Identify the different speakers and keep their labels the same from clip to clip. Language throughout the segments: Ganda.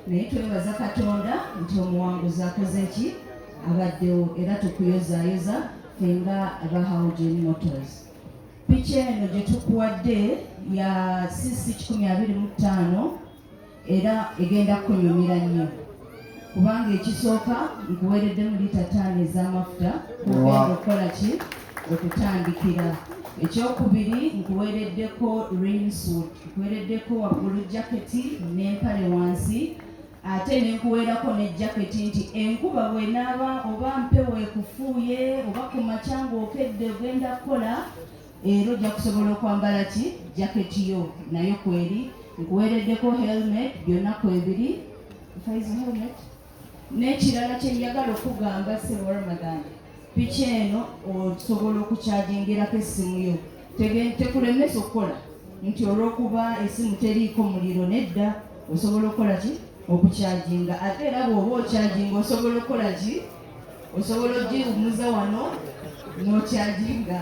Speaker 1: naye twebaza katonda nti omuwanguzi akoze ki abaddewo era tukuyozayoza fenga aba haugen motors piki eno gye tukuwadde ya cc 125 era egenda kukunyumira nnyo kubanga ekisooka nkuweereddemu lita taano ez'amafuta kugenda okukola ki okutandikira ekyokubiri nkuweereddeko rainsuit nkuweereddeko waggulu jaketi n'empale wansi ate nenkuweerako ne jaketi nti enkuba bwenaaba oba mpewo ekufuuye oba ku makya ng'okedde ogenda kukola era ojja kusobola okwambala ki jaketi yo nayo kweri nkuweereddeko helmet byonna kwebiri helmet N'ekirala kye njagala okugamba ssebo Ramadan, piki eno osobola okukyajingirako essimu yo tekulemesa okukola nti olw'okuba essimu teriiko muliro nedda osobola okukola ki okukyajinga ate era bw'oba okyajinga osobola okukola ki osobola ogiwumuza wano n'okyaginga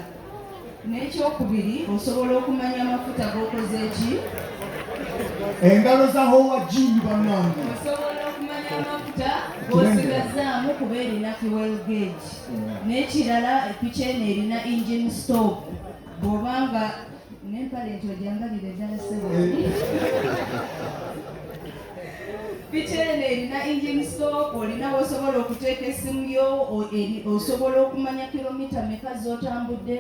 Speaker 1: n'ekyokubiri osobola okumanya amafuta g'okoze eki
Speaker 2: engalo za howa jini bannange osobola okumanya
Speaker 1: amafuta g'osigazzaamu kuba erina fuel gage n'ekirala epiki eno erina engine stop bw'oba nga n'empale nti ojangalire ddala ssebo piki eno erina engine stop olina wosobola okuteeka esimu yo osobola okumanya kilomita meka zotambudde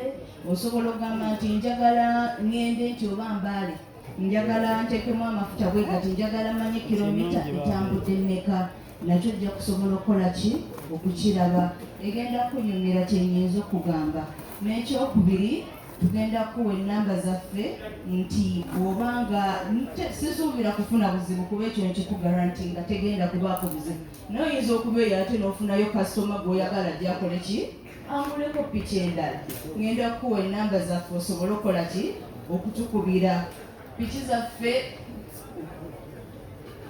Speaker 1: osobola okugamba nti njagala ngende nti oba mbaale njagala ntekemu amafuta bwegati njagala manye kilomita etambudde meka nakyo ojja kusobola okukola ki okukiraba egenda kunyumira kyenyinza okugamba n'ekyokubiri tugenda kuwa enamba zaffe nti bwoba nga sisuubira kufuna buzibu kuba ekyo nkikugaranti nga tegenda kubaako buzibu naye oyinza okuba eyo ate n'ofunayo kasitoma gweoyagala gyakola ki anguleko piki endala ngenda kukuwa enamba zaffe osobole okukola ki okutukubira piki zaffe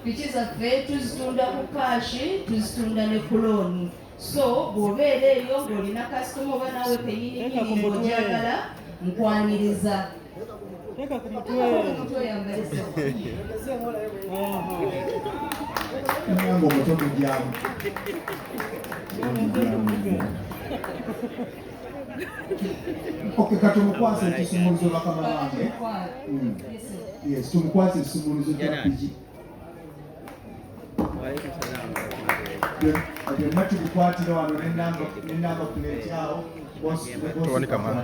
Speaker 1: Piki zaffe tuzitunda ku kaashi, tuzitunda ne ku looni. So bw'obeera eyo ng'olina kasitoma oba naawe kennyini nnyini ng'ogyagala nkwaniriza. Teka ku mutwe.
Speaker 2: Mwango muto mujyamu. Okay, kati omukwasa ekisumuluzo bakama bange. Hmm. Yes, tumukwasa ekisumuluzo kya piki. Byonna tubikwatira wano n'ennamba puleeti awo. Towanika mwana.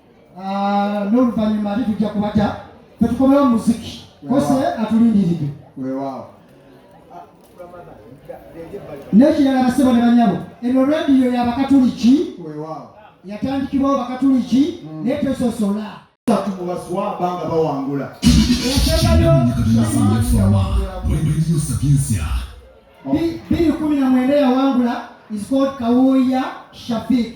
Speaker 3: ah, n'oluvannyuma ate tujja kubata tetukomewo muziki kose atulindiridde wewaawo n'ekirala basebo ne banyabo eno radiyo yabakatuliki
Speaker 2: yatandikibwawo
Speaker 3: bakatuliki hmm. naye tesosola
Speaker 2: tubaswaba nga
Speaker 3: bawangula biri kumi na mwenda yawangula is called kawuya shafik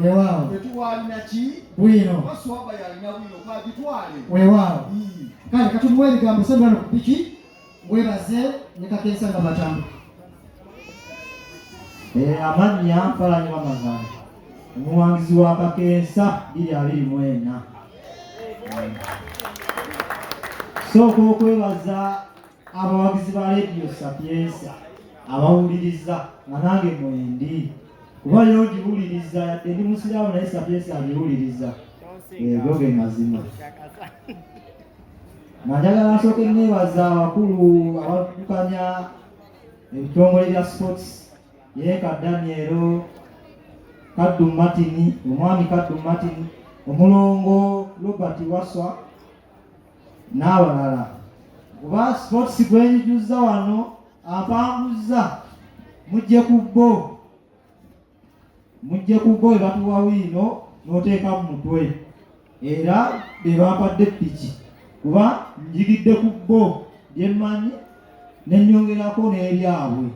Speaker 3: Weewaawo.
Speaker 2: Tetwalina ki? Bwino. Oba swaba yalina bwino kwagitwale.
Speaker 3: Weewaawo. Kale katumuwa ebigambo sembula no ku piki webaze ne kakensa nga batamu.
Speaker 4: Eh, amannya mpalanyi wamazala omuwangizi wa kakensa biri abiri mu ena sooka okwebaza abawagizi ba leediyo sapiensa abawuliriza nga nange mwendi kuba yo ngiwuliriza yadde ndi musiraamu naye sapiensa abiwuliriza ego ge mazima nanjagala nsooke neebaza abakulu abaddukanya ebitongole bya sports yeeka danielo kaddu martin omwami kaddu martin omulongo robert waswa n'abalala kuba sports gwenjuzza wano ampanguzza mujje ku bbo mujje ku bbo ebatuwa wiino n'oteeka mu mutwe era be bampadde piki kuba njigidde ku bbo byemmanyi ne nnyongerako n'ebyabwe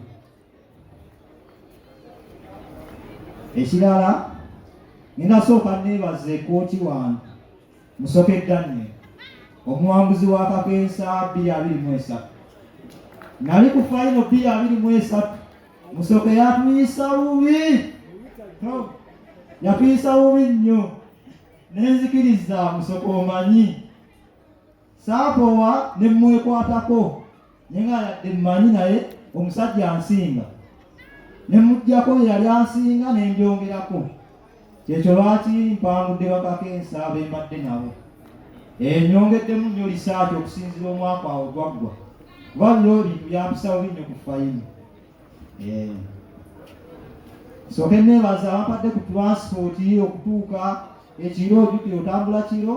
Speaker 4: ekirala ninasooka neebaza ekooti wange musoke daniel omuwanguzi wa kakensa bbiri abiri mu esatu nali ku fayino bbiri abiri mu esatu musoke yatuyisa bubi yatuyisa bubi nnyo nenzikiriza musoke omanyi saakoowa ne mmwekwatako ne nga yadde mmanyi naye omusajja ansinga ne mujjako yeyali ansinga ne njongerako kyekyo lwaki mpangudde bakako ensa bembadde nabo enyongeddemu nnyo lisaati okusinzira omwaka awo gwaggwa kuba biro bintu byampisawo binnyo ku fayimu eh. soke nebaza abampadde ku transpoti okutuuka ekiro ojukire otambula kiro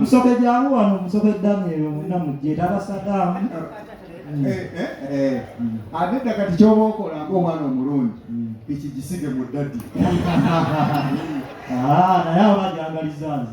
Speaker 2: musoke jangu wano
Speaker 4: musoke daniel omuna mujje tabasadamu ate dda kati kyoba okola ngaomwana omulungi ekigisibe mu dadi naye abajangarizanzi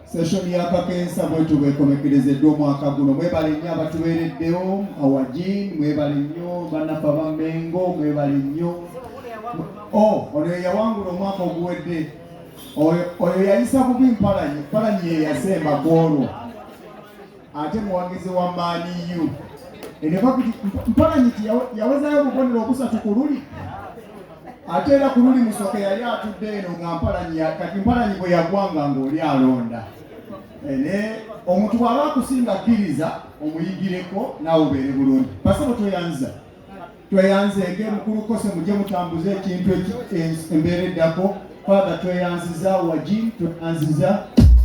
Speaker 2: Session ya Kakensa bwetu bwekomekerezeddwa omwaka guno. Mwebale nnyo abatubeereddewo awajin, mwebale nnyo bannaffe aba Mmengo, mwebale nnyo oh, ono yeyawangula omwaka oguwedde oyo yayisa bubi mpalanyi mpalanyi yeyasemba kwolwo ate muwagizi wa Man U mpalanyi ti yawezayo obubonero obusatu ku luli ate era ku luli musoke yali atudde eno nga mpalanyi kati mpalanyi bwe yagwanga ng'oli alonda eh, ne omuntu bw'aba akusinga kkiriza omuyigireko naawe obeere bulungi basebo tweyanza tweyanze ng'emukulu kose mujje mutambuze ekintu embeera eddako faatha tweyanziza wagi tweyanziza